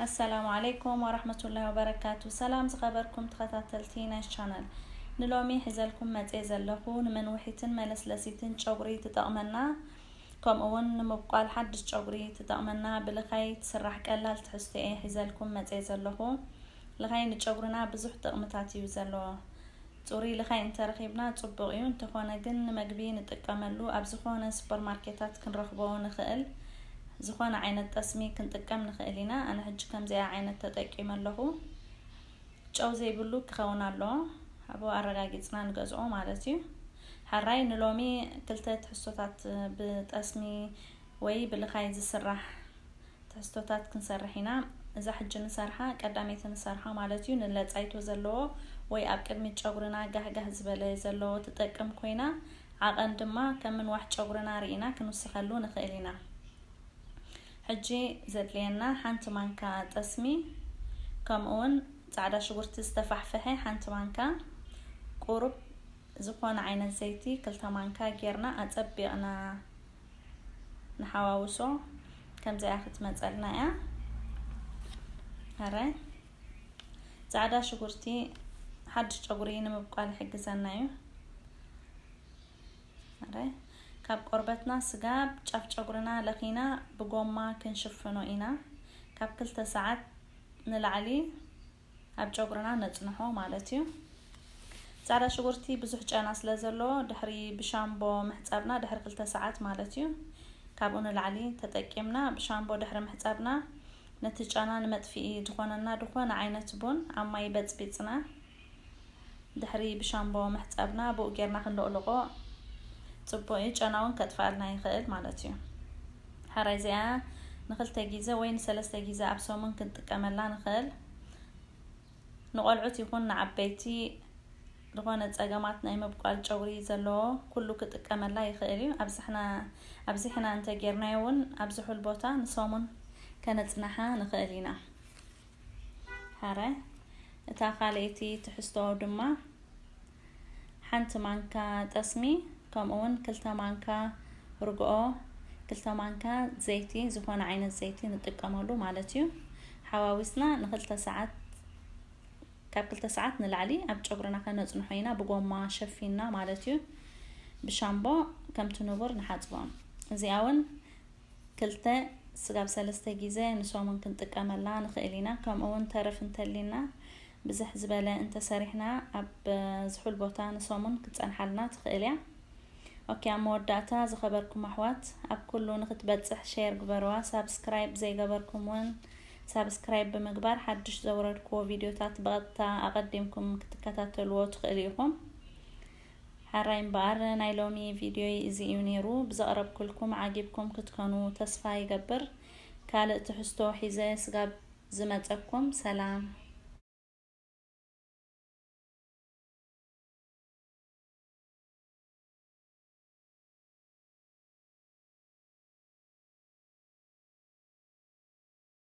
ኣሰላሙ ዓለይኩም ወራህመቱላሂ ወበረካቱ ሰላም ዝኸበርኩም ተኸታተልቲ ናይዝ ቻነል ንሎሚ ሒዘልኩም መጼ ዘለኹ ንመንውሒትን መለስለሲትን ጨጉሪ ትጠቕመና ከምኡ ውን ንምብቋል ሓድሽ ጨጉሪ ትጠቕመና ብልኻይ ትስራሕ ቀላል ትሕዝቶ እየ ሒዘልኩም መጼ ዘለኹ ልኻይ ንጨጉርና ብዙሕ ጥቕምታት እዩ ዘለዎ ጽሩይ ልኻይ እንተረኺብና ጽቡቕ እዩ፣ እንተኾነ ግን ንመግቢ ንጥቀመሉ ኣብ ዝኾነ ሱፐርማርኬታት ክንረኽቦ ንኽእል ዝኾነ ዓይነት ጠስሚ ክንጥቀም ንኽእል ኢና፣ ኣነ ሕጂ ከምዚኣ ዓይነት ተጠቂመ ኣለኹ፣ ጨው ዘይብሉ ክኸውን ኣለዎ፣ ኣብኡ ኣረጋጊጽና ንገዝኦ ማለት እዩ። ሐራይ ንሎሚ ክልተ ትሕዝቶታት ብጠስሚ ወይ ብልኻይ ዝስራሕ ተህዝቶታት ክንሰርሕ ኢና። እዛ ሕጂ ንሰርሓ ቀዳመይቲ ንሰርሓ ማለት እዩ። ንለጻይቶ ዘለዎ ወይ ኣብ ቅድሚት ጨጉርና ጋህ ጋህ ዝበለ ዘለዎ ትጠቅም ኮይና ዓቐን ድማ ከም ምንዋሕ ጨጉርና ርኢና ክንውስኸሉ ንኽእል ኢና። ሕጂ ዘድልየና ሓንቲ ማንካ ጠስሚ ከምኡውን ጻዕዳ ሽጉርቲ ዝተፋሕፈሐ ሓንቲ ማንካ ቁሩብ ዝኾነ ዓይነት ዘይቲ ክልተ ማንካ ጌርና ኣጸቢቕና ንሓዋውሶ ከምዚኣ ክትመፀልና እያ ሕራይ ፃዕዳ ሽጉርቲ ሓድሽ ጨጉሪ ንምብቋል ይሕግዘና እዩ ሕራይ ካብ ቆርበትና ስጋ ጫፍ ጨጉርና ለኺና ብጎማ ክንሽፍኖ ኢና ካብ ክልተ ሰዓት ንላዕሊ ኣብ ጨጉርና ነጽንሖ ማለት እዩ ጻዕዳ ሽጉርቲ ብዙሕ ጨና ስለ ዘለዎ ድሕሪ ብሻምቦ ምሕጻብና ድሕሪ ክልተ ሰዓት ማለት እዩ ካብኡ ንላዕሊ ተጠቂምና ብሻምቦ ድሕሪ ምሕጻብና ነቲ ጨና ንመጥፍኢ ዝኾነና ዝኾነ ዓይነት ቡን ኣብ ማይ በጽቢጽና ድሕሪ ብሻምቦ ምሕጻብና ብኡ ጌርና ክንሎቕልቆ ጽቡቕ እዩ ጨና እውን ከጥፍኣልና ይኽእል ማለት እዩ ሓራይ እዚኣ ንክልተ ግዜ ወይ ንሰለስተ ግዜ ኣብ ሰሙን ክንጥቀመላ ንኽእል ንቆልዑት ይኹን ንዓበይቲ ዝኾነ ፀገማት ናይ ምብቋል ጨጉሪ ዘለዎ ኩሉ ክጥቀመላ ይኽእል እዩ ኣብዚሕና እንተ ጌርናዮ እውን ኣብ ዝሑል ቦታ ንሰሙን ከነፅናሓ ንኽእል ኢና ሃረ። እታ ካልኣይቲ ትሕዝቶ ድማ ሓንቲ ማንካ ጠስሚ ከምኡውን ክልተ ማንካ ርግኦ፣ ክልተ ማንካ ዘይቲ ዝኾነ ዓይነት ዘይቲ ንጥቀመሉ ማለት እዩ። ሓዋዊስና ንክልተ ሰዓት ካብ ክልተ ሰዓት ንላዕሊ ኣብ ጨጉርና ከነፅንሖ ኢና ብጎማ ሸፊንና ማለት እዩ ብሻምቦ ከምቲ ንቡር ንሓፅቦም እዚኣ እውን ክልተ፣ ስጋብ ሰለስተ ጊዘ ንሰሙን ክንጥቀመላ ንኽእል ኢና፣ ከምኡ ውን ተረፍ እንተሊና ብዝሕ ዝበለ እንተሰሪሕና ኣብ ዝሑል ቦታ ንሰሙን ክትጸንሓልና ትኽእል እያ። ኦኬ ኣብ መወዳእታ ዝኸበርኩም ኣሕዋት ኣብ ኩሉ ንክትበጽሕ ሼር ግበርዋ ሳብስክራይብ ዘይገበርኩም ውን ሳብስክራይብ ብምግባር ሓድሽ ዘውረድክዎ ቪድዮታት ብቐጥታ ኣቐዲምኩም ክትከታተልዎ ትኽእሉ ኢኹም። ሐራይ እምበኣር ናይ ሎሚ ቪድዮይ እዚ እዩ ነይሩ ብዘቕረብኩልኩም ዓጊብኩም ክትከኑ ተስፋ ይገብር ካልእ ትሕዝቶ ሒዘ ስጋብ ዝመፀኩም ሰላም